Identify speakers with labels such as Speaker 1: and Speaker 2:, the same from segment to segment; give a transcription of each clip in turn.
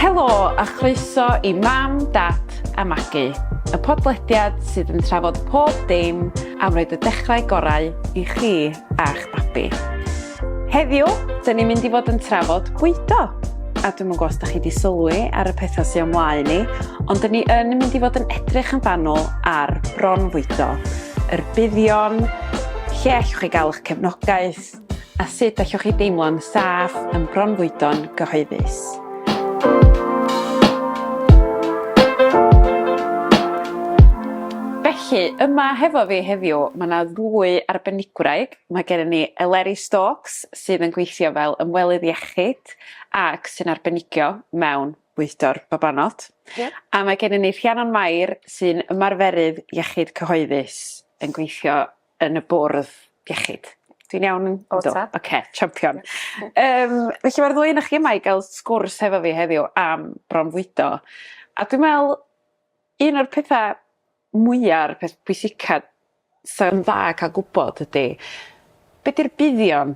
Speaker 1: Helo a chroeso i Mam, Dad a Magu, y podlediad sydd yn trafod pob dim am roed y dechrau gorau i chi a'ch babi. Heddiw, dyn ni'n mynd i fod yn trafod bwydo. A dwi'n gwybod os da chi wedi sylwi ar y pethau sy'n ymlaen ni, ond dyn ni yn mynd i fod yn edrych yn fanwl ar bron fwydo, yr buddion, lle allwch chi gael eich cefnogaeth, a sut allwch chi deimlo'n saff yn bronfwydo'n gyhoeddus. Felly, yma hefo fi heddiw, mae yna ddwy arbenigwraig. Mae gennym ni Eleri Stokes, sydd yn gweithio fel ymwelydd iechyd ac sy'n arbenigio mewn bwydo'r babanod. Yeah. A mae gennym ni Rhiannon Mair, sy'n ymarferydd iechyd cyhoeddus yn gweithio yn y bwrdd iechyd. Dwi'n iawn yn... O, ta. Oce, okay, champion. um, felly mae'r ddwy yn chi yma i gael sgwrs hefo fi heddiw am bronfwydo. A dwi'n meddwl, un o'r pethau mwyaf, peth pwysica sy'n dda cael gwybod ydy, beth yw'r buddion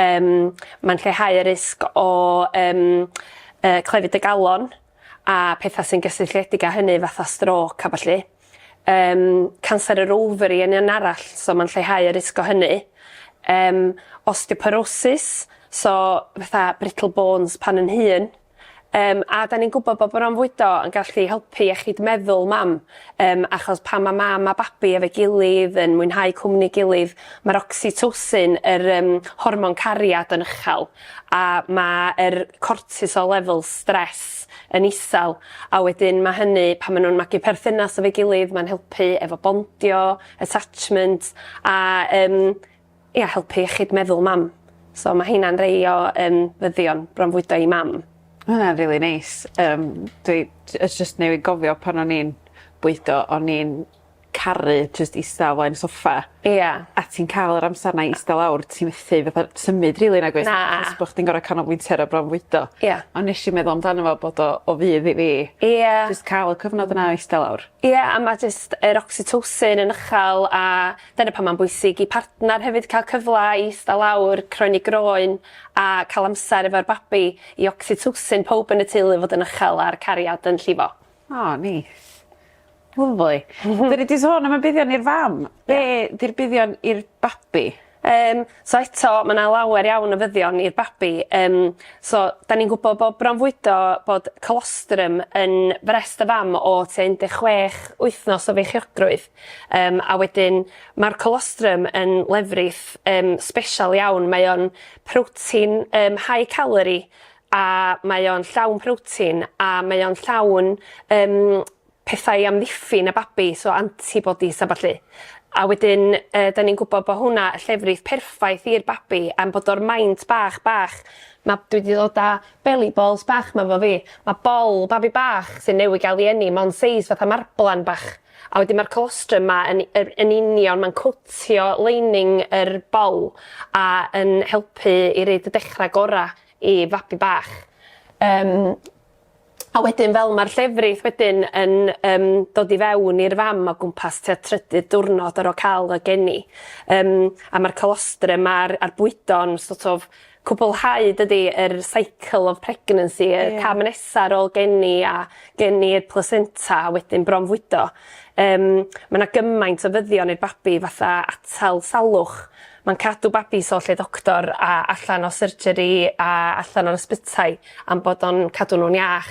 Speaker 2: Yym mae'n lleihau y risg o yym yy clefyd y galon a petha sy'n gysylltiedig â hynny fatha strôc a ballu. Yym canser yr ofari yn un arall so ma'n lleihau y risg o hynny. Yym osteoporosis so fatha brittle bones pan yn hŷn. Yym a 'dan ni'n gwbod bo' bronfwydo yn gallu helpu iechyd meddwl mam yym achos pan ma' mam a babi efo'i gilydd yn mwynhau cwmni gilydd ma'r ocsitosin yr yym hormon cariad yn ychal a ma' yr cortisol levels stress yn isal a wedyn ma' hynny pan ma' nw'n magu perthynas efo'i gilydd ma'n helpu efo bondio attachment a yym ia helpu iechyd meddwl mam. So ma' heina'n rei o yym fyddion bronfwydo i mam. Ma' wnna'n rili
Speaker 1: neis yym dwi j- yy jyst newydd gofio pan o'n i'n bwydo o'n i'n caru jyst ista o flaen soffa. Ia. A ti'n
Speaker 2: ca'l yr
Speaker 1: amser 'na i ista lawr ti methu fatha symud rili nagwyt? Na. Jyst bo' chdi'n gor'o'
Speaker 2: canolbwyntio
Speaker 1: ar y bronfwydo. Ia. A nesh i meddwl
Speaker 2: amdano
Speaker 1: fo bod o o fudd i fi. Ia. Jyst ca'l
Speaker 2: y cyfnod
Speaker 1: yna o ista lawr. Ia a ma' jyst
Speaker 2: yr ocitosin yn uchal a Dyna pam mae'n bwysig i partner hefyd cael cyfle i ista lawr, croeni groen a cael amser efo'r babi i ocsitosin pawb yn y teulu fod yn uchel a'r cariad yn llifo. O, neis.
Speaker 1: Lyfli. Dyn ni 'di sôn am y buddion i'r fam. Be' 'di'r buddion i'r babi? Yym so
Speaker 2: eto ma' 'na lawer iawn o fuddion i'r babi yym so 'dan ni'n gwbo bo' bronfwydo bod colostrum yn frest y fam o tua un de' chwech wythnos o feichiogrwydd. Yym a wedyn ma'r colostrum yn lefrith yym sbesial iawn mae o'n protein yym high calorie a mae o'n llawn protein a mae o'n llawn yym pethau i amddiffyn y babi so antibodies a ballu. A wedyn yy 'dan ni'n gwbo bo' hwnna y llefrith perffaith i'r babi am bod o'r maint bach bach ma' dwi 'di ddod â beli bols bach 'ma efo fi ma' bol babi bach sy'n newy ga'l 'i eni mond seis fatha marblan bach. A wedyn ma'r colostrum 'ma yn yr yn union ma'n cowtio lining yr bol a yn helpu i roid y dechra gora i fabi bach. Yym a wedyn fel ma'r llefrith wedyn yn yym dod i fewn i'r fam o gwmpas tua trydydd diwrnod ar ôl ca'l y geni yym a ma'r colostrum a'r a'r bwydo'n so't of cwblhau dydi yr cycle of pregnancy y cam nesa ar ôl geni a geni y plesenta a wedyn bronfwydo yym ma' 'na gymaint o fyddion i'r babi fatha atal salwch ma'n cadw babis o lle doctor a allan o surgery a allan o'r ysbytai am bod o'n cadw nw'n iach.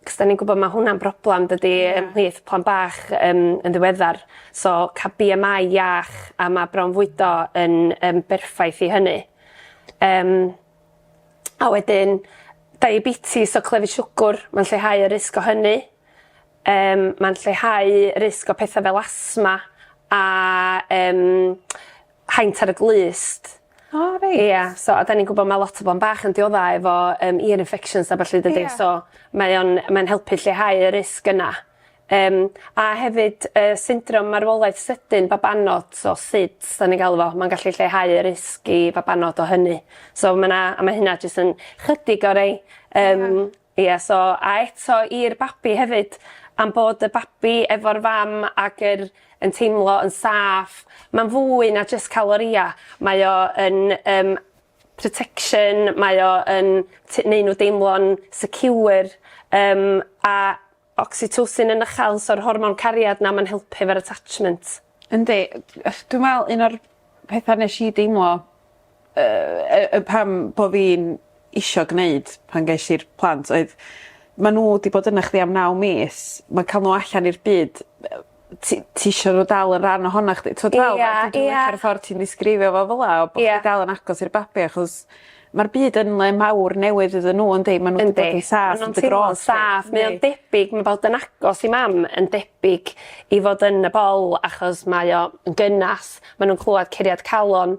Speaker 2: 'C'os 'dan ni'n gwbod ma' hwnna'n broblam dydi ymhlith plant bach yym yn ddiweddar so ca'l Bee Em Eye iach a ma' bronfwydo yn yn berffaith i hynny. Yym a wedyn diabetes o clefyd siwgwr ma'n lleihau y risg o hynny. Yym ma'n lleihau risg o petha fel asthma a yym haint ar y glust. O reit. Ia
Speaker 1: so a 'dan ni'n gwbo
Speaker 2: ma' lot o bo' yn bach yn diodda efo yym ear infections a ballu dydi? Ia. So mae o'n mae'n helpu lleihau y risg yna. Yym a hefyd yy syndrom marwolaeth sydyn babanod so SIDS 'dan ni'n galw fo ma'n gallu lleihau y risg i fabanod o hynny. So ma' 'na a ma' hynna jyst yn chydig o rei yym Ia so a eto i'r babi hefyd am bod y babi efo'r fam ag yr yn teimlo yn saff ma'n fwy na jyst ca'l oria mae o yn yym protection mae o yn t- neu' n'w deimlo'n secure yym a Oxytocin yn uchel so'r hormon cariad 'na ma'n helpu efo'r attachment. Yndi yy
Speaker 1: yy dwi me'wl un o'r petha nesh i deimlo yy yy yy pam bo' fi'n isio gneud pan gesh i'r plant oedd ma' n'w 'di bod yna chdi am naw mis ma'n ca'l n'w allan i'r byd yy ti ti isio n'w dal yn rhan ohona chdi t'wod fel... Ia ia. ...dwi licio'r ffor ti'n ddisgrifio fo fel 'a a bo'... Ia. ...chdi dal yn agos i'r babi achos ma'r byd yn le mawr newydd iddyn n'w yndi? Ma' n'w 'di bod yn saff yn dy grôt di. Yndi ma' nw'n teimlo'n saff mae o'n debyg
Speaker 2: ma' bod yn agos i mam yn debyg i fod yn y bol achos mae o yn gynas ma' nw'n clŵad curiad calon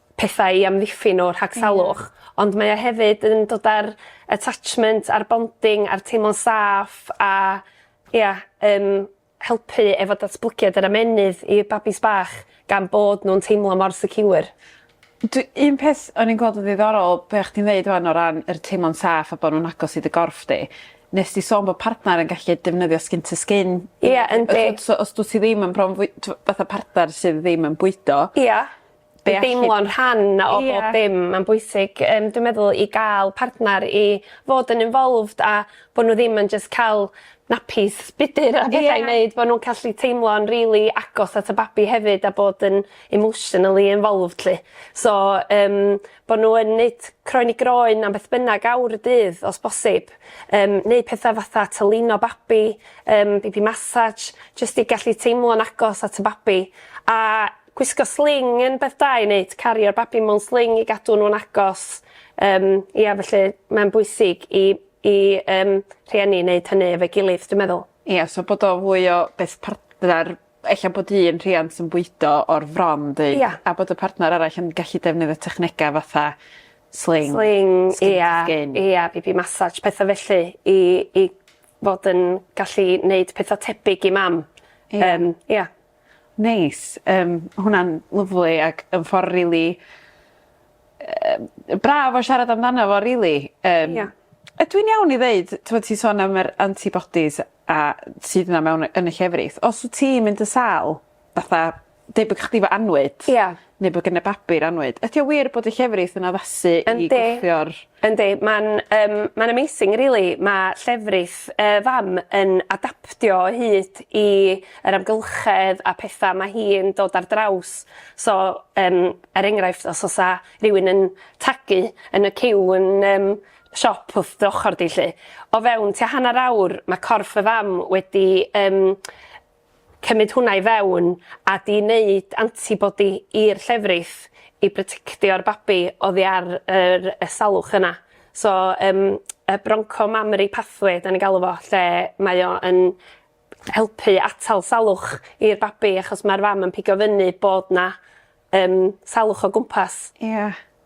Speaker 2: pethau i amddiffyn o rhag salwch ond mae o hefyd yn dod â'r attachment a'r bonding a'r teimlo'n saff a ia yym helpu efo datblygiad yr ymennydd i'r babis bach gan bod nw'n teimlo mor secure. Dwi un
Speaker 1: peth o'n i'n gweld yn ddiddorol be' o' chdi'n ddeud ŵan o ran yr teimlo'n saff a bo' nw'n agos i dy gorff di nes di sôn bo' partner yn gallu defnyddio skin to skin. Ia yndi.
Speaker 2: So os dwt ti ddim yn
Speaker 1: bron fwy- t'w- fatha partner sydd ddim yn bwydo. Ia. Be'
Speaker 2: all... Deimlo'n rhan o bob dim ma'n bwysig yym dwi'n meddwl i ga'l partner i fod yn involved a bo' n'w ddim yn jyst ca'l napis budr a petha i neud bo' nw'n gallu teimlo'n rili agos at y babi hefyd a bod yn emotionally involved 'lly. So yym bo' n'w yn neud croen i groen na'm beth bynnag awr y dydd os bosib yym neu petha fatha tylino babi yym baby massage jyst i gallu teimlo'n agos at y babi a Gwisgo sling yn beth da i neud, cario'r babi mewn sling i gadw nw'n agos yym ia felly mae'n bwysig i i yym rhieni neud hynny efo'i gilydd dwi meddwl. Ia so bod o fwy
Speaker 1: o beth partner ella bod un rhiant yn bwydo o'r fron deud... Ia. ...a bod y partner arall yn gallu defnyddio technega fatha sling. Sling ia. Skin to skin. Ia baby massage
Speaker 2: petha felly i i fod yn gallu neud petha tebyg i mam. Ia. Yym ia.
Speaker 1: Neis yym ma' hwnna'n lyfli ac yn ffor rili yy braf o siarad amdano fo rili yym... Ia. ...ydw i'n iawn i ddeud t'mod ti sôn am yr anti bodies a sydd 'na mewn yy yn y llefrith os wt ti mynd yn sâl fatha debyg chdi 'fo annwyd... Ia. neu bod gen y babi'r annwyd. Ydi o wir bod y llefrith yn addasu i Yndi. gwthio'r... Yndi ma'n yym
Speaker 2: ma'n amazing rili ma' llefrith y fam yn adaptio o hyd i yr amgylchedd a petha ma' hi'n dod ar draws so yym er enghraifft os o's 'a rywun yn tagu yn y ciw yn yym siop wrth dy ochor di 'lly o fewn tua hannar awr ma' corff y fam wedi yym Cymryd hwnna i fewn a di neud antibody i'r llefrith i brotectio'r babi oddi ar yr y salwch yna. So yym y bronco mammary pathway 'dan ni'n galw fo lle mae o yn helpu atal salwch i'r babi achos ma'r fam yn pigo fyny bod 'na yym salwch o gwmpas. Ia.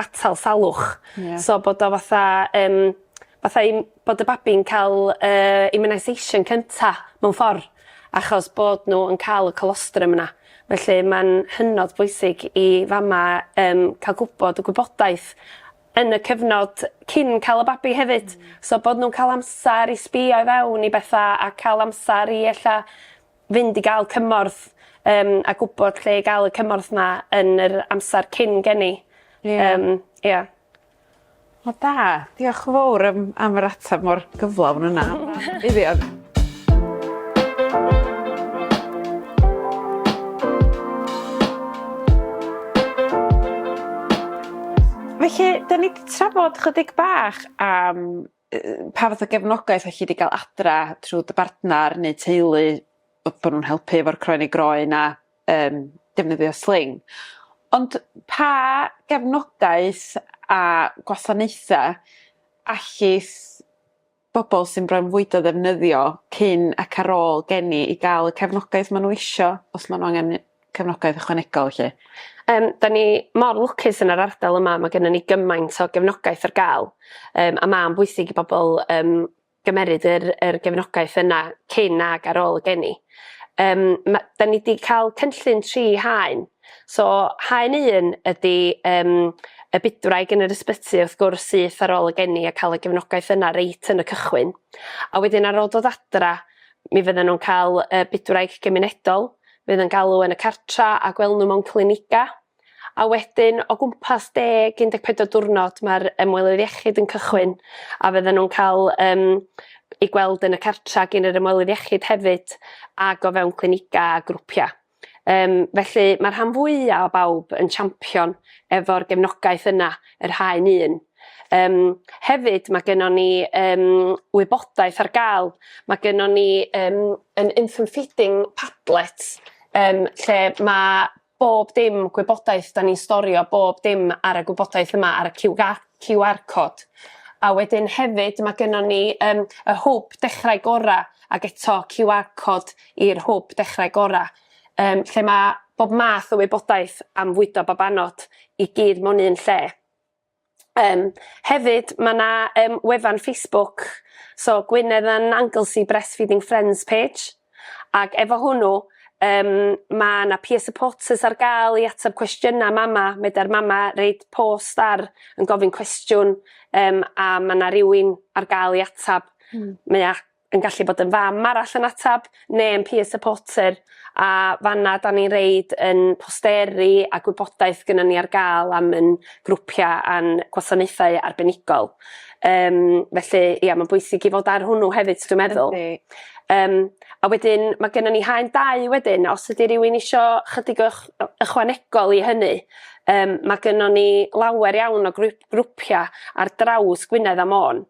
Speaker 2: atal salwch. Ie. So bod o fatha yym fatha i m- bod y babi'n ca'l yy immunisation cynta mewn ffor achos bod n'w yn ca'l y colostrum yna. Felly ma'n hynod bwysig i fama yym ca'l gwbod y gwybodaeth yn y cyfnod cyn ca'l y babi hefyd. Hmm. So bod nw'n ca'l amsar i sbïo i fewn i betha a ca'l amsar i ella fynd i ga'l cymorth yym a gwbod lle i ga'l y cymorth 'ma yn yr amsar cyn geni. Ie. Yym ia.
Speaker 1: Wel da. Diolch yn fowr yym am yr atab mor gyflawn yna. Iddewon. Felly 'dyn ni 'di trafod chydig bach am yy pa fath o gefnogaeth o' chi 'di ga'l adra trw dy bartnar neu teulu bo' bo' nw'n helpu efo'r croen i groen a yym defnyddio sling ond pa gefnogaeth a gwasanaetha allith bobol sy'n bronfwydo ddefnyddio cyn ac ar ôl geni i ga'l y cefnogaeth ma' n'w isio os ma' n'w angen 'i? cefnogaeth ychwanegol felly? Yym 'da ni
Speaker 2: mor lwcus yn yr ardal yma ma' gennon ni gymaint o gefnogaeth ar ga'l yym a ma'n bwysig i bobol yym gymeryd yr yr gefnogaeth yna cyn ag ar ôl y geni. Yym ma' 'da ni 'di ca'l cynllun tri haen so haen un ydi yym y bydwraig yn yr ysbyty wrth gwrs syth ar ôl y geni a ca'l y gefnogaeth yna reit yn y cychwyn a wedyn ar ôl dod adra Mi fyddan nhw'n cael y bydwraig gymunedol, fydd yn galw yn y cartra a gwel nhw mewn cliniga. A wedyn o gwmpas deg, 14 diwrnod mae'r ymwelydd iechyd yn cychwyn a fyddan nhw'n cael um, i gweld yn y cartra gyn yr ymwelydd iechyd hefyd ag o fewn cliniga a grwpiau. Yym felly mae'r rhan fwya' o bawb yn champion efo'r gefnogaeth yna, yr haen un. Yym hefyd mae gynnon ni yym wybodaeth ar ga'l, mae gynnon ni yym yn infant feeding padlet yym lle mae bob dim gwybodaeth 'dan ni'n storio bob dim ar y gwybodaeth yma ar y ciw ga- ciw ar cod. A wedyn hefyd mae gynnon ni yym y hwb Dechrau Gora' ag eto ciw ar cod i'r hwb Dechrau Gorau, yym, lle mae bob math o wybodaeth am fwydo babanod i gyd mewn un lle. Um, hefyd, mae yna um, wefan Facebook, so Gwynedd and Anglesey Breastfeeding Friends page, ac efo hwnnw, um, mae yna peer supporters ar gael i ateb cwestiynau mama, meda'r mama reid post ar yn gofyn cwestiwn, um, a mae yna rhywun ar gael i ateb. Mm. Mae yn gallu bod yn fam arall yn atab ne' yn peer supporter a fanna 'da ni'n reid yn posteri a gwybodaeth gynnon ni ar ga'l am yn grwpia' a'n gwasanaethau arbenigol yym felly ia ma'n bwysig i fod ar hwnnw hefyd dwi'n meddwl. Yndi. Yym a wedyn ma' gynnon ni haen dau wedyn os ydi rywun isio chydig o ych- ychwanegol i hynny yym ma' gynnon ni lawer iawn o grŵp- grwpia' ar draws Gwynedd a Môn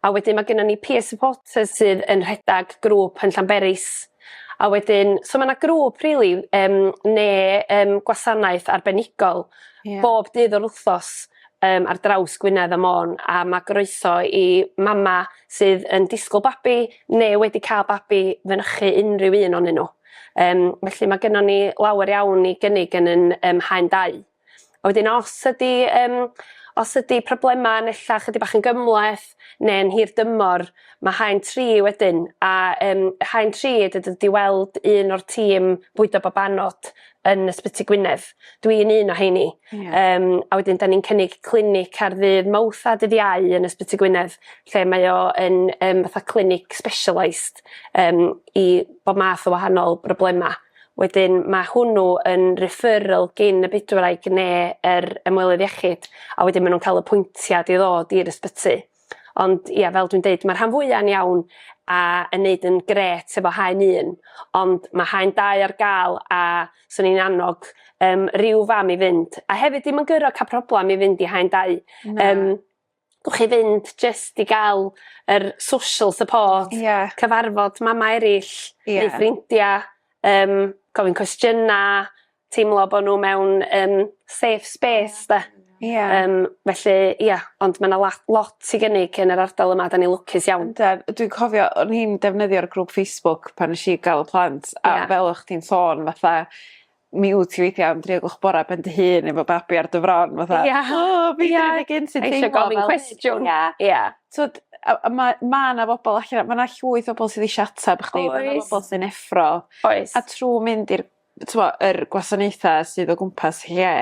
Speaker 2: A wedyn ma' gynnon ni peer supporters sydd yn rhedag grŵp yn Llanberis. A wedyn so ma' 'na grŵp rili yym ne' yym gwasanaeth arbenigol... Ia. ...bob dydd o'r wthnos yym ar draws Gwynedd a Môn a ma' groeso i mama' sydd yn disgwl babi ne' wedi ca'l babi fynychu unrhyw un onyn n'w. Yym felly ma' gynnon ni lawer iawn i gynnig yn yn yym Haen Dau. A wedyn os ydi yym os ydi problema' yn ella 'chydig bach yn gymhleth ne'n hir dymor ma' haen tri wedyn a yym haen tri ydi dod i weld un o'r tîm bwydo babanod yn Ysbyty Gwynedd. Dwi'n un o 'heini. Ie. Yym a wedyn 'da ni'n cynnig clinic ar ddydd Mowrth a dydd Iau yn Ysbyty Gwynedd lle mae o yn yym fatha clinic specialised yym i bob math o wahanol broblema'. Wedyn ma' hwnnw yn referral gin y bydwraig ne' yr ymwelydd iechyd a wedyn ma' nw'n ca'l apwyntiad i ddod i'r ysbyty. Ond ia fel dwi'n deud ma'r rhan fwya'n iawn a yn neud yn grêt efo haen un ond ma' haen dau ar ga'l a swn i'n annog yym ryw fam i fynd a hefyd dim yn guro ca'l problam i fynd i haen dau. Na. Yym. bo' chi fynd jyst i ga'l yr social support. Ia. Cyfarfod mamau eryll. Ia. Neu ffrindia yym gofyn cwestiyna teimlo bo' n'w mewn yym safe space 'de? Ia. Yym felly ia ond ma' 'na la- lot i gynnig yn yr ardal yma 'dan ni lwcus iawn. Yndan yy dwi'n cofio
Speaker 1: o'n i'n defnyddio'r grŵp Facebook pan nesh i ga'l y plant a fel o' chdi'n sôn fatha mi wt ti weithia' am dri o gloch bora ben dy hun efo babi ar dy fron fatha... Ia. ...o fi 'di neud e gynt yn teimlo fel... Isio gofyn cwestiwn. Ia.
Speaker 2: Ia. T'wod a a ma'
Speaker 1: ma' 'na bobol allan 'na ma' 'na llwyth o bobol sydd eisia atab chdi... Oes. ...ma' 'na bobol sy'n effro. Oes. A trw mynd i'r t'mo' yr gwasanaetha sydd o gwmpas lle...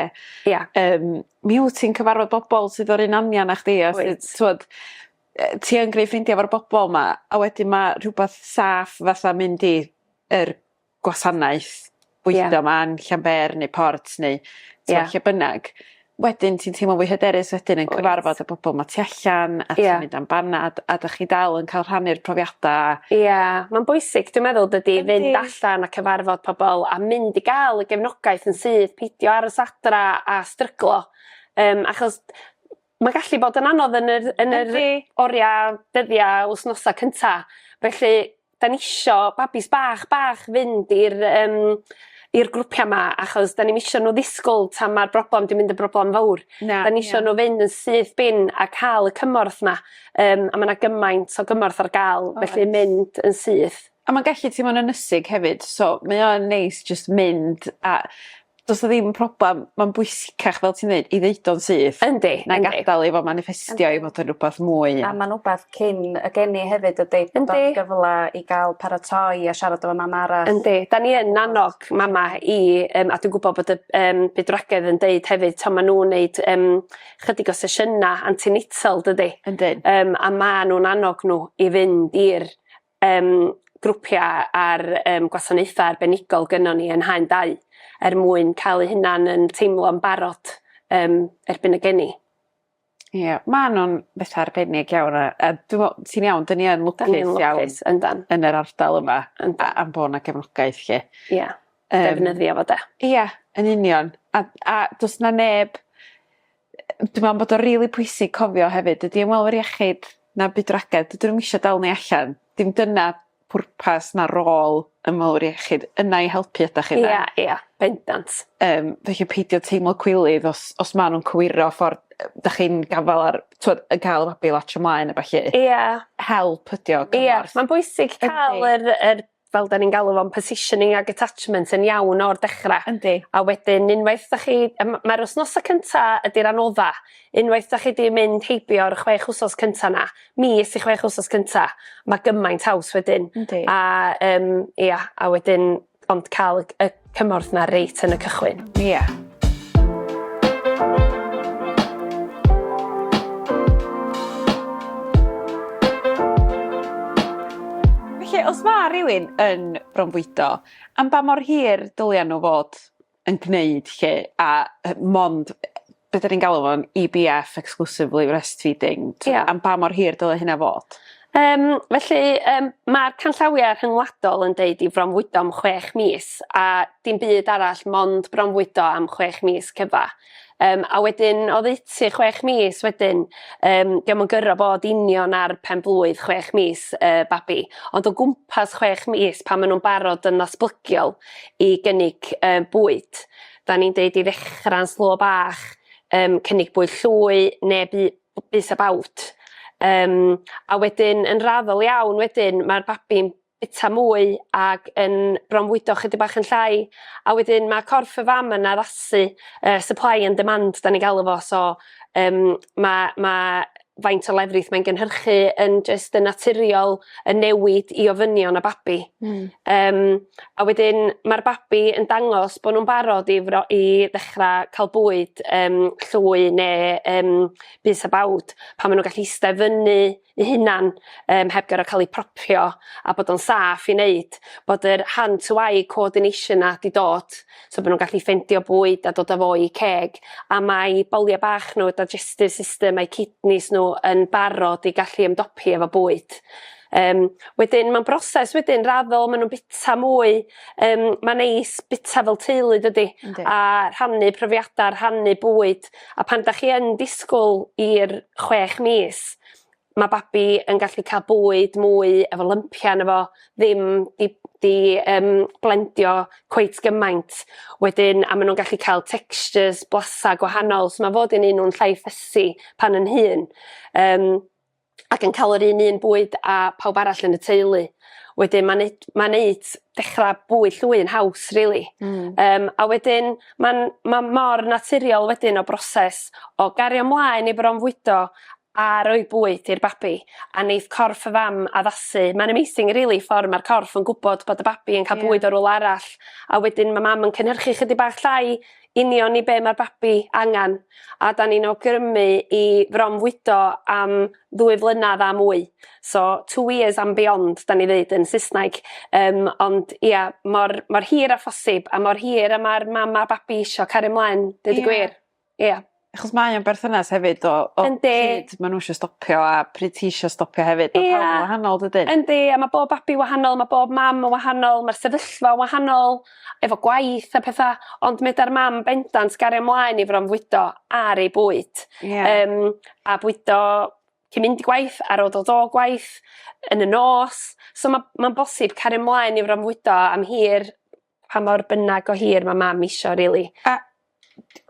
Speaker 1: Ia. ...yym mi wt ti'n cyfarfod bobol sydd o'r un anian â chdi a... Wyt. ...sy t'wod yy ti yn gneu' ffrindia efo'r bobol 'ma a wedyn ma' rhwbath saff fatha mynd i yr gwasanaeth weithio... Ie. ...'ma yn Llanber neu Port neu t'mo'... Ie. ...lle bynnag wedyn ti'n teimlo fwy hyderus wedyn yn cyfarfod... Wyt. ...y bobol 'ma tu allan... Ie. ...a ti'n mynd am banad a 'dych chi dal yn ca'l rhannu'r profiada a... Ia ma'n
Speaker 2: bwysig dwi meddwl dydi... Yndi. ...fynd allan a cyfarfod pobol a mynd i ga'l y gefnogaeth yn syth pidio aros adra a stryglo yym achos Mae gallu bod yn anodd yn yr yn yr Yndi. oria dyddia wsnosa cynta felly 'dan ni isio babis bach bach fynd i'r yym i'r grwpia' 'ma achos 'dan ni'm isio n'w ddisgwl tan ma'r broblam 'di mynd yn broblam fowr. Na. 'Dan ni isio n'w fynd yn syth bin a ca'l y cymorth 'ma yym a ma' 'na gymaint o gymorth ar ga'l felly mynd yn syth. A ma'n gallu teimlo'n
Speaker 1: ynysig hefyd so mae o'n neis jyst mynd a do's 'na ddim problem ma'n bwysicach fel ti'n ddeud i ddeud o'n syth. Yndi yndi. Na'i gadal
Speaker 2: i fo
Speaker 1: maniffestio i fod yn rwbath mwy na... A ma'n wbath cyn
Speaker 3: y geni hefyd ydi? Yndi. Bod o'n gyfla i ga'l paratoi a siarad efo mam arall. Yndi 'dan ni yn
Speaker 2: annog mama i yym a dwi'n gwbo bod y yym bydwragedd yn deud hefyd t'o' ma' nw'n neud yym chydig o sesiyna anti-natal dydi? Yndi. Yym a
Speaker 1: ma' nw'n
Speaker 2: annog n'w i fynd i'r um, grwpiau a'r um, gwasanaethau arbenigol gynnon ni yn haen dau er mwyn cael eu hunan yn teimlo'n barod um, erbyn y geni. Ie, yeah,
Speaker 1: mae nhw'n beth arbennig iawn. A, a ti'n iawn, dyn ni yn lwcus iawn yndan. yn yr ardal yma yndan. a, a bod yna gefnogaeth lle. Ie, yeah. um, defnyddio
Speaker 2: fo de. Ie, yeah, yn union.
Speaker 1: A, a does na neb dwi me'wl bod o rili pwysig cofio hefyd dydi ymwelwyr iechyd na bydwragedd dydyn nw'm isio dal ni allan. Dim dyna pwrpas na rôl ymwelwyr iechyd yna i helpu ydach chi 'de? Ia ia bendant.
Speaker 2: Yym felly
Speaker 1: peidio teimlo cwilydd os os ma' nw'n cywiro ffor yy 'dach chi'n gafal ar t'wod yn ca'l y babi i latsio mlaen a ballu. Ia. Help ydi o cymorth. Ia ma'n bwysig
Speaker 2: ca'l yr yr fel 'dan ni'n galw fo'n positioning ag attachment yn iawn o'r dechra. Yndi. A wedyn unwaith 'dach chi yym ma'r wsnosa cynta ydi'r anodda. Unwaith 'dach chi 'di mynd heibio ar y chwech wsos cynta 'na mis i chwech wsos cynta ma' gymaint haws wedyn. Yndi. A yym ia a wedyn ond ca'l y cymorth 'na reit yn y cychwyn. Ie.
Speaker 1: Felly os ma' rywun yn bronfwydo am ba mor hir dylia n'w fod yn gneud 'lly a yy mond yy be' 'dan ni'n galw fo'n Ee Bee Eff exclusively breastfeeding. Ia. Am ba mor hir dyle hynna fod? Yym felly
Speaker 2: yym ma'r canllawia rhyngwladol yn deud i fronfwydo am chwech mis a dim byd arall mond bronfwydo am chwech mis cyfa. Yym a wedyn oddeutu chwech mis wedyn yym 'di o'm yn goro bod union ar pen-blwydd chwech mis y babi ond o gwmpas chwech mis pan ma' nw'n barod yn ddatblygiol i gynnig yy bwyd. 'dan ni'n deud i ddechra'n slo bach yym cynnig bwyd llwy ne' bu- bys a bawd yym a wedyn yn raddol iawn wedyn ma'r babi'n bita mwy ag yn bronfwydo chydig bach yn llai a wedyn ma' corff y fam yn addasu yy supply and demand 'dan ni'n galw fo so yym ma' ma' faint o lefrith mae'n gynhyrchu yn jyst yn naturiol yn newid i ofynion y babi. Hmm. Yym a wedyn ma'r babi yn dangos bo' nw'n barod i fro- i ddechra ca'l bwyd yym llwy ne' yym bys a bawd pan ma' n'w gallu iste fyny 'u hunan yym heb goro ca'l 'u propio a bod o'n saff i neud bod yr hand to eye coordination 'na 'di dod so bod nhw'n gallu ffeindio bwyd a dod â fo i ceg a mae boliau bach nhw, digestive system a'u kidneys nhw yn barod i gallu ymdopi efo bwyd. Um, wedyn mae'n broses wedyn raddol maen nhw'n bita mwy um, mae'n neis bita fel teulu dydy Yndi. a rhannu profiadau rhannu bwyd a pan da chi yn disgwyl i'r chwech mis ma' babi yn gallu ca'l bwyd mwy efo lympia yno fo ddim 'di 'di yym blendio cweit gymaint wedyn a ma' nw'n gallu ca'l textures blasu' gwahanol so ma' fod yn un nw'n llai fussy pan yn hŷn yym ac yn ca'l yr un un bwyd a pawb arall yn y teulu wedyn ma'n neu- ma'n neud dechra' bwyd llwy'n haws rili. Hmm. Yym a wedyn ma'n ma' mor naturiol wedyn y broses o gario mlaen i fronfwydo a rhoi bwyd i'r babi a neith corff y fam addasu mae'n amazing rili ffor ma'r corff yn gwbod bod y babi yn ca'l bwyd o rwla arall a wedyn ma' mam yn cynhyrchu chydig bach llai union i be' ma'r babi angan a 'dan ni'n awgrymu i fronfwydo am ddwy flynadd a mwy so two years and beyond 'dan ni ddeud yn Sysnaig yym ond ia mor mor hir â phosib a mor hir a ma'r mam a babi isio cario mlaen deud y gwir. Ia. Achos mae o'n
Speaker 1: berthynas hefyd o o... Yndi. ...pryd ma' n'w isio stopio a pryd ti isio stopio hefyd. Ia. Ma' pawb yn wahanol dydyn? Yndi a ma' bob babi
Speaker 2: wahanol ma' bob mam yn wahanol ma'r sefyllfa wahanol efo gwaith a petha ond ma' ydar mam bendant gario mlaen i fronfwydo ar ei bwyd. Ia. Yym a bwydo cyn mynd i gwaith ar ôl dod o gwaith yn y nos so ma' ma'n bosib cario mlaen i fronfwydo am hir pa mor bynag o hir ma' mam isio rili. A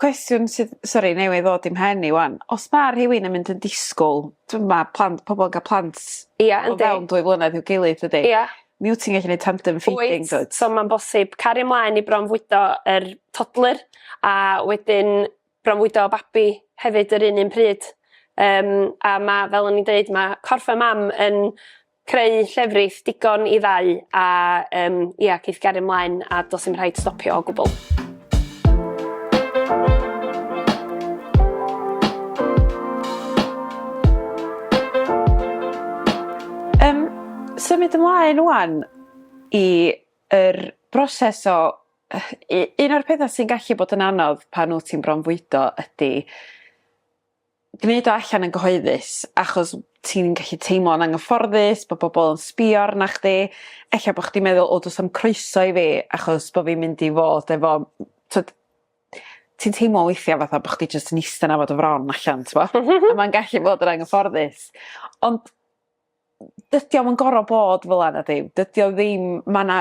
Speaker 1: cwestiwn sydd sori newydd ddod i'm mhen i ŵan os ma' rhywun yn mynd yn disgwl t'm' ma' plant pobol yn ga'l plant... Ia yndi. ...o fewn dwy flynedd i'w gilydd dydi? Ia. Mi wt ti'n gallu neud tandem feeding dwyt? Wyt so ma'n bosib cario
Speaker 2: mlaen i bronfwydo yr toddler a wedyn bronfwydo babi hefyd yr un un pryd yym a ma' fel o'n i'n deud ma' corff y mam yn creu llefrith digon i ddau a yym ia geith gario mlaen a do's dim rhaid stopio o gwbwl. Yym
Speaker 1: symud ymlaen ŵan i yr broses o yy u- un o'r petha sy'n gallu bod yn anodd pan wt ti'n bronfwydo ydi gneud o allan yn gyhoeddus achos ti'n gallu teimlo'n anghyfforddus bo' bobol yn sbio arna chdi ella bo' chdi'n meddwl o do's na'm croeso i fi achos bo' fi'n mynd i fod efo m- t'od ti'n teimlo weithia' fatha bo' chdi jyst yn iste 'na fo dy fron allan t'bo? M-hm. A ma'n gallu bod yn anghyfforddus ond dydi o'm yn gor'o' bod fel 'a nadi? Dydi o ddim ma' 'na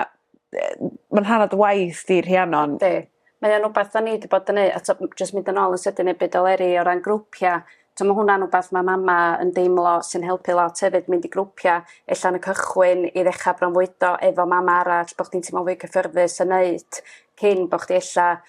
Speaker 1: yy ma'n rhan o dy waith di Rhiannon. Yndi. Mae o'n wbath
Speaker 3: 'dan ni 'di bod yn neu' a t'o' m- jyst mynd yn ôl yn sydyn i'r byd o leri o ran grwpia' t'o' ma' hwnna'n wbath ma' mama yn deimlo sy'n helpu lot hefyd mynd i grwpia' e'lla yn y cychwyn i ddechra bronfwydo efo mam arall bo' chdi'n teimlo'n fwy cyffyrddus yn neud cyn bo' chdi e'lla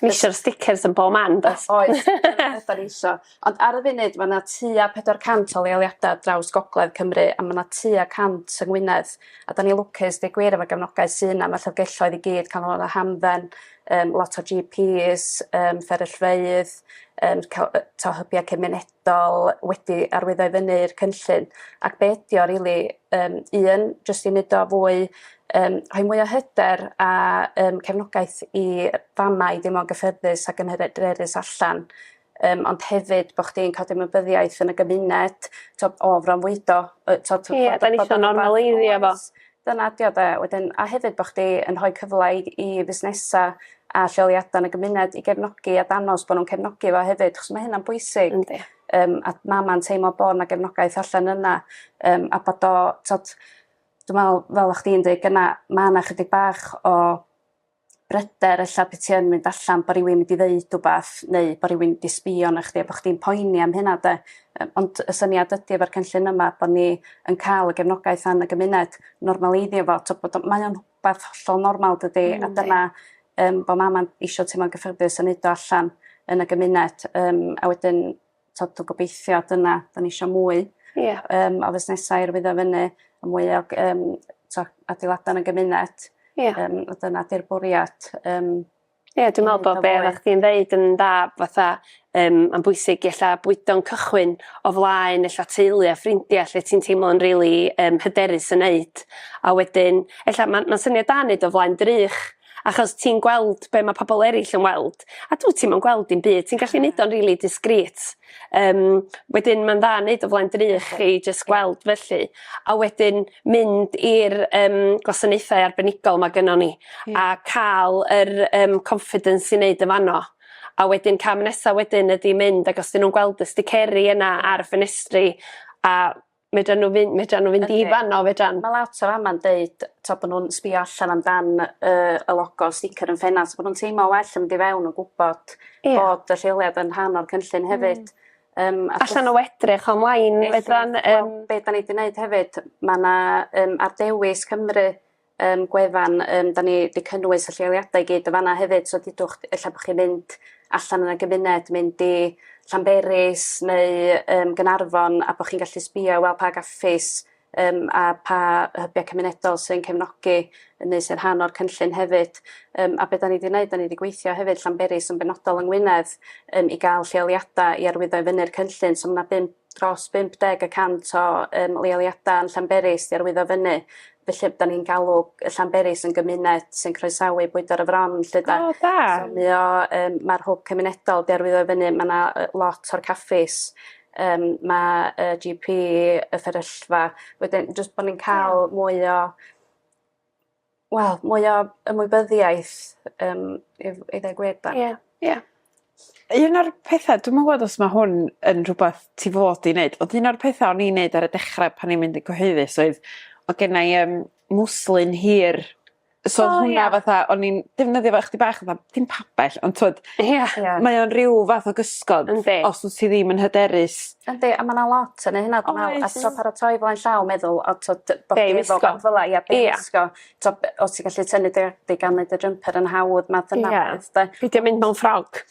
Speaker 3: Mae
Speaker 2: eisiau'r stickers yn bob man, does? Oes, ydan
Speaker 3: ni isio. Ond ar y funud, mae yna tua 400 o leoliadau draws gogledd Cymru, a mae yna tua 100 yng Ngwynedd. A da ni lwcus, dweud gwir, efo gefnogaeth sy'n yna, mae llyfgelloedd i gyd, cael canolfannau hamdden, um, lot o GPs, um, fferyllfeydd, um, to hybiau cymunedol, penodol wedi arwyddo i fyny i'r cynllun ac be' ydi o rili yym un jyst i neud o fwy yym rhoi mwy o hyder a yym cefnogaeth i fama' i deimlo'n gyffyrddus ac yn hyderus allan yym ond hefyd bo' chdi'n ca'l dy ymwybyddiaeth yn y gymuned t'od o fronfwydo yy t'od... Ie 'da
Speaker 2: ni isio normaleiddio fo. Dyna 'di o 'de?
Speaker 3: Wedyn a hefyd bo' chdi yn rhoi cyfla i i fusnesa' a lleoliada' yn y gymuned i gefnogi a danos bo' nw'n cefnogi fo hefyd 'chos ma' hynna'n bwysig. Yndi. Yym a ma' ma'n teimlo bo' 'na gefnogaeth allan yna yym a bod o t'od dwi me'wl fel o' chdi'n deud gyna' ma' 'na chydig bach o bryder ella pe ti yn mynd allan bo' rywun mynd i ddeud wbath neu bo' rywun mynd i sbio arnoch chdi a bo' chdi'n poeni am hynna 'de? Yy ond y syniad ydi efo'r cynllun yma bo' ni yn ca'l y gefnogaeth fan y gymuned normaleiddio fo t'o' bod o mae o'n wbath hollol normal dydi? Yndi. A dyna yym bo' mama'n isio teimlo'n gyffyrddus a neud o allan yn y gymuned yym a wedyn t'od dwi gobeithio dyna 'dan ni isio mwy. Ia. Yym o fusnesau i arwyddo fynny a mwy o ag yym t'o' adeilada' yn y gymuned. Ia. Yym a dyna 'di'r bwriad yym. Ia
Speaker 2: dwi me'wl bo' be' oddach chdi'n ddeud yn dda fatha yym ma'n bwysig i ella bwydo'n cychwyn o flaen ella teulu a ffrindia lle ti'n teimlo'n rili yym hyderus yn neud a wedyn ella ma'n ma'n syniad da neud o flaen drych achos ti'n gweld be ma' pobol erill yn weld a dw't ti'm yn gweld dim byd ti'n gallu neud o'n rili discreet yym wedyn ma'n dda neud o flaen dy ry' chi jyst gweld felly a wedyn mynd i'r yym gwasanaethau arbenigol ma' gyno ni a ca'l yr yym confidence i neud yn fano a wedyn cam nesa' wedyn ydi mynd ag os 'di n'w'n gweld y sticeri yna ar y ffenestri a Medran n'w fyn- medran n'w fynd i fan 'no fedran? Ma' lot o fama'n
Speaker 3: deud t'o' bo' nw'n sbïo allan am dan yy y logo sticer yn ffenast bo' nw'n teimlo well yn mynd i fewn yn gwbod... Ia. ...bod y lleoliad yn rhan o'r cynllun hefyd. Hmm. Yym a... Allan
Speaker 2: o edrych online fedran yym... Wel be' 'dan ni 'di
Speaker 3: neud hefyd ma' 'na yym ar Dewis Cymru um, gwefan, um, da ni wedi cynnwys y lleoliadau i gyd yn fanna hefyd, so dydwch, efallai bod chi'n mynd allan yn y gymuned, mynd i Llanberis neu um, Gynarfon a bod chi'n gallu sbio i weld pa gaffis um, a pa hybiau cymunedol sy'n cefnogi neu sy'n rhan o'r cynllun hefyd. Um, a beth da ni wedi gwneud, da ni wedi gweithio hefyd Llanberis yn benodol yng Ngwynedd um, i gael lleoliadau i arwyddo i fyny'r cynllun. So mae yna bum dros 50 y cant o yym leoliadau yn Llanberis 'di arwyddo fyny. Felly 'dan ni'n galw yy Llanberis yn gymuned sy'n croesawu bwydo ar y fron 'lly 'de? O da. So mi o yym ma'r hwb cymunedol 'di arwyddo fyny ma' 'na yy lot o'r caffis yym ma' yy Gee Pee y fferyllfa wedyn jyst bo' ni'n ca'l mwy o wel mwy o ymwybyddiaeth yym i dd- i ddeu gwir 'da. Ie
Speaker 1: ie. Un o'r petha dwi'm yn gwbod os ma' hwn yn rhwbath ti fod i neud ond un o'r petha o'n i'n neud ar y dechre pan o'n i'n mynd yn cyhoeddus oedd o' gennai yym mwslyn hir so o'dd hwnna fatha o'n i'n defnyddio fo chydig bach fatha dim pabell ond t'wod... Ia. ...mae o'n ryw fath o gysgod... Yndi. ...os wt ti ddim yn hyderus Yndi a ma' 'na lot
Speaker 3: yn neu' hynna dwi me'wl a t'o' paratoi flaen llaw meddwl a t'o' dy- bo' chdi efo rwbath fel 'a ia be' i wisgo t'o' be- o' ti gallu tynnu dy dy gan neud y jumper yn hawdd math yna o beth 'de? Pidio mynd mewn ffrog.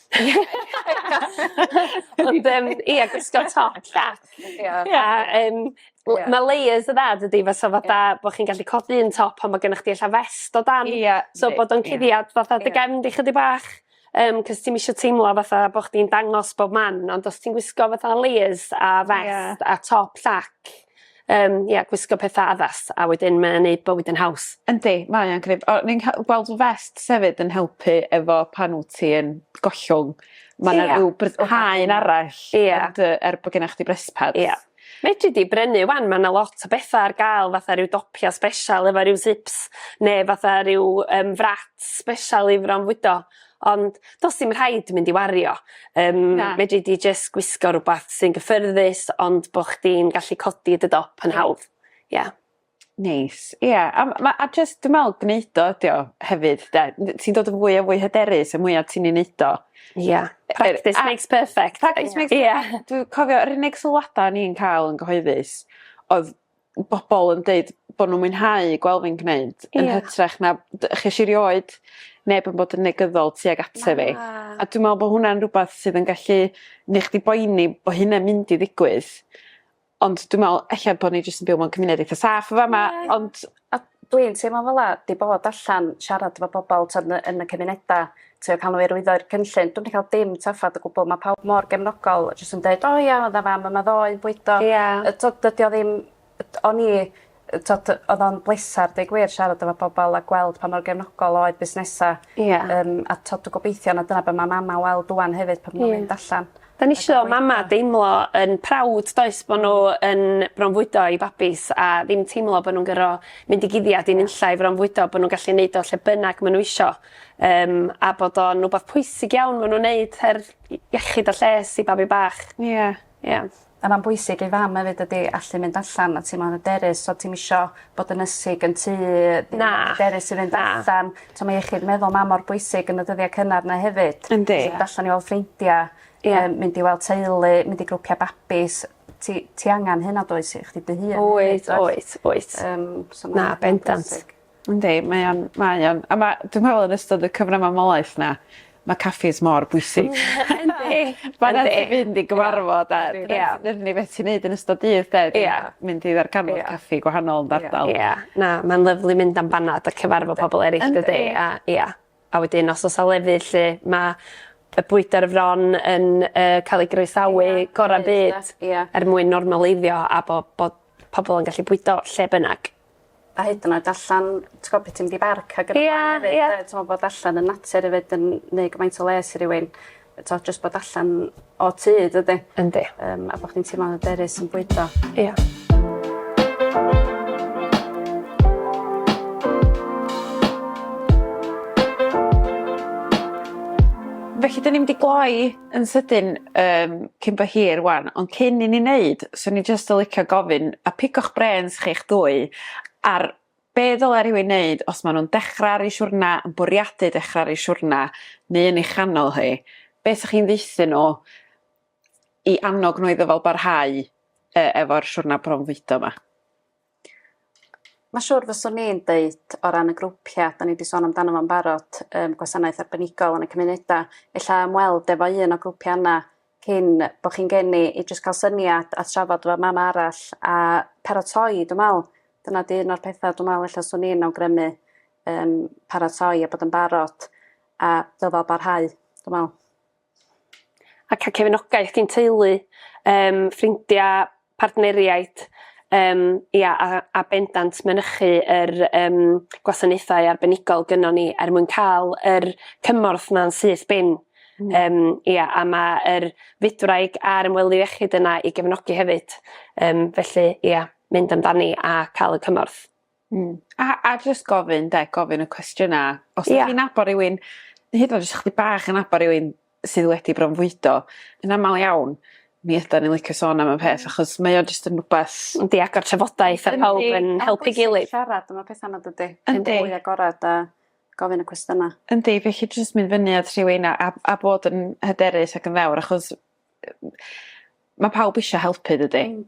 Speaker 2: Ond yym ia gwisgo top llac. Ia. Ia yym l- ma' layers y dda dydi fysa fatha bo' chi'n gallu codi un top pan ma' gennych chdi ella fest o dan. Ia. So bod o'n cuddiad fatha dy gefn di chydig bach. Yym 'c'os ti'm isio teimlo fatha bo' chdi'n dangos bob man ond os ti'n gwisgo fatha layers a vest a top llac yym ia gwisgo petha addas a wedyn mae o'n neud bywyd yn haws. Yndi mae o'n gneud
Speaker 1: o ni'n ca'l gweld vests hefyd yn helpu efo pan wt ti yn gollwng ma' 'na ryw bryderhau arall... Ia. ...yn dy er bo' genna chdi brest pads. Ia. Fedri di
Speaker 2: brynu 'wan ma' 'na lot o betha ar ga'l fatha ryw dopia sbeshal efo ryw sips ne' fatha ryw yym frats sbeshal i fronfwydo ond do's dim rhaid mynd i wario yym... Na. ...fedri di jyst gwisgo rwbath sy'n gyffyrddus ond bo' chdi'n gallu codi dy dop yn hawdd. Ia.
Speaker 1: Neis. Ie a m- ma' a jyst dwi me'wl gneud o ydi o hefyd 'de? N- ti'n dod yn fwy a fwy hyderus y mwya ti'n 'i neud o. Ia. Practice a...
Speaker 2: Makes perfect. Practice makes per-... Ia. ...dwi
Speaker 1: cofio yr unig sylwada o'n i'n ca'l yn gyhoeddus odd bobol yn deud bo' nw'n mwynhau gwel' fi'n gneud... Ia. ...yn hytrach na d- chesh i rioed neb yn bod yn negyddol tuag ata fi. Na. A dwi me'wl bo' hwnna'n rwbath sydd yn gallu neu' chdi boeni bo' hynna'n mynd i ddigwydd ond dwi me'wl ella bo' ni jyst yn byw mewn cymuned eitha saff y' fa' 'ma ond... A dwi'n teimlo
Speaker 3: fel 'a 'di bod allan siarad efo pobol t'od yn y yn y cymuneda' trio ca'l n'w i arwyddo'r cynllun dwi'm 'di ca'l dim trafferth o gwbwl ma' pawb mor gefnogol a jyst yn deud o ia o'dd 'a fam yma ddoe yn bwydo... Ia. ...yy t'od dydi o ddim yy o'n i yy t'od yy odd o'n bleser deu gwir siarad efo pobol a gweld pa mor gefnogol oedd busnesa'. Ia. Yym a t'od dwi gobeithio na dyna be' ma' mama' weld ŵan hefyd pan ma' nw'n mynd allan. 'Dan ni isio mama'
Speaker 2: deimlo yn proud does bo' n'w yn bronfwydo eu babis a ddim teimlo bo' nw'n gor'o' mynd i guddiad i nunlla i fronfwydo bo' nw'n gallu neud o lle bynnag ma' n'w isio yym a bod o'n wbath pwysig iawn ma' nw'n neud her i- iechyd a lles i babi bach. Ia. Ie.
Speaker 3: A ma'n bwysig i fam efyd dydi allu mynd allan a teimlo'n yderus t'od ti'm isio bod yn ysig yn tŷ... Na. ...hyderus i fynd allan. Na. T'o' ma' iechyd meddwl mam mor bwysig yn y dyddia' cynnar 'na hefyd. Yndi. Mynd allan i weld
Speaker 1: ffrindia.
Speaker 3: Ie. Yym mynd i weld teulu mynd i grwpia' babis ti ti angan hynna does i chdi dy hun. Wyt oes wyt. Yym
Speaker 2: so ma'... Na bendant.
Speaker 1: Yndi mae o'n mae o'n a ma' dwi
Speaker 2: me'wl
Speaker 1: yn ystod y cyfnod mamolaeth 'na ma' caffis mor bwysig. Yndi. Ma' raid ti fynd i gyfarfod a... Yndi. ...ia dyna ni beth ti neud yn ystod dydd 'de? Ia. Mynd i ddarganfod caffi gwahanol yn dy ardal. Ia ia. Na ma'n lyfli
Speaker 2: mynd am banad a cyfarfod pobol eryll dydi? Yndi. A ia. A wedyn os o's 'a lefydd lle ma' y bwydo ar fron yn yy ca'l ei groesawu gora'r byd. Ia. Er mwyn normaleiddio a bo' bod pobol yn gallu bwydo lle bynnag. A hyd yn oed
Speaker 3: allan t'gwo' pe' ti'n mynd i barc ag yn y blaen efyd... Ia ia. ...yy t'mo' bod allan yn natur efyd yn neu' gymaint o les i rywun yy t'o' jyst bod allan o tŷ dydi? Yndi. Yym a
Speaker 2: bo' chdi'n teimlo'n
Speaker 3: hyderus yn bwydo. Ia.
Speaker 2: Felly
Speaker 1: 'dyn ni mynd i gloi Yn sydyn yym cyn bo hir ŵan ond cyn i ni neud swn i jyst yn licio gofyn a pigo'ch brêns chi'ch dwy ar be' ddyla rywun neud os ma' nw'n dechra ar 'u siwrna yn bwriadu dechra ar 'u siwrna neu yn ei chanol hi be' sa chi'n ddeutho n'w i annog n'w iddo fo barhau yy efo'r siwrna bronfwydo 'ma?
Speaker 3: Mae'n siŵr fyswn i'n deud o ran y grwpia' 'dan ni 'di sôn amdano fo'n barod yym gwasanaeth arbenigol yn y cymuneda' ella ymweld efo un o grwpia' yna cyn bo' chi'n geni i jyst ca'l syniad a trafod efo mam arall a paratoi dwi me'wl dyna 'di un o'r petha' dwi me'wl ella swn i'n awgrymu yym paratoi a bod yn barod a dyfal barhau dwi me'wl.
Speaker 2: a cael cefnogaeth gin teulu, yym, ffrindiau, partneriaid, yym, ia, a a bendant mynychu yr yym gwasanaethau arbenigol gynnon ni er mwyn ca'l yr cymorth 'na'n syth bin. Hmm. Yym ia a ma' yr fydwraig a'r ymwelydd iechyd yna i gefnogi hefyd yym felly ia mynd amdani a ca'l y cymorth. Hmm. A
Speaker 1: a jyst gofyn 'de gofyn y cwestiyna'. Os... Ia. ...'dych chi'n nabod rywun ne' hyd yn o'd os 'dych chdig bach yn nabod rywun sydd wedi bronfwydo yn amal iawn mi ydan ni licio sôn am y peth achos mae o jyst yn rwbath... Yndi agor trafodaeth
Speaker 2: a pawb yn helpu gilydd. Yndi siarad am y petha 'ma dydi?
Speaker 3: Yndi. Yn fwy agorad a gofyn y cwestyna. Yndi felly jyst
Speaker 1: mynd fyny at rhywun a a a bod yn hyderus ac yn ddewr achos yy ma' pawb isio helpu dydi? Hmm.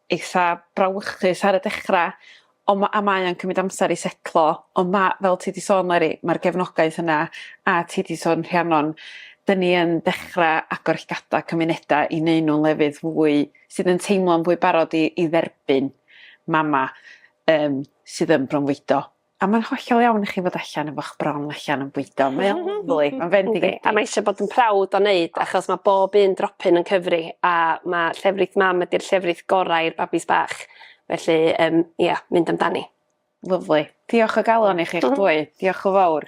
Speaker 1: eitha brawychus ar y dechra on' ma' a mae o'n cymryd amser i setlo on' ma' fel ti 'di sôn Meiri ma'r gefnogaeth yna a ti 'di sôn Rhiannon 'dyn ni yn dechra agor llygada cymuneda i neu' nw'n lefydd fwy sydd yn teimlo'n fwy barod i i dderbyn mama yym sydd yn bronfwydo. A mae'n hollol iawn i chi fod allan efo'ch bron allan yn bwydo mae o'n lyfli ma'n fendigedig. Yndi a mae eisio bod yn proud
Speaker 2: o neud achos ma' bob un dropyn yn cyfri a ma' llefrith mam ydi'r llefrith gorau i'r babis bach felly yym ia mynd amdani. Lyfli.
Speaker 1: Diolch o galon i chi'ch dwy. Diolch y' fowr.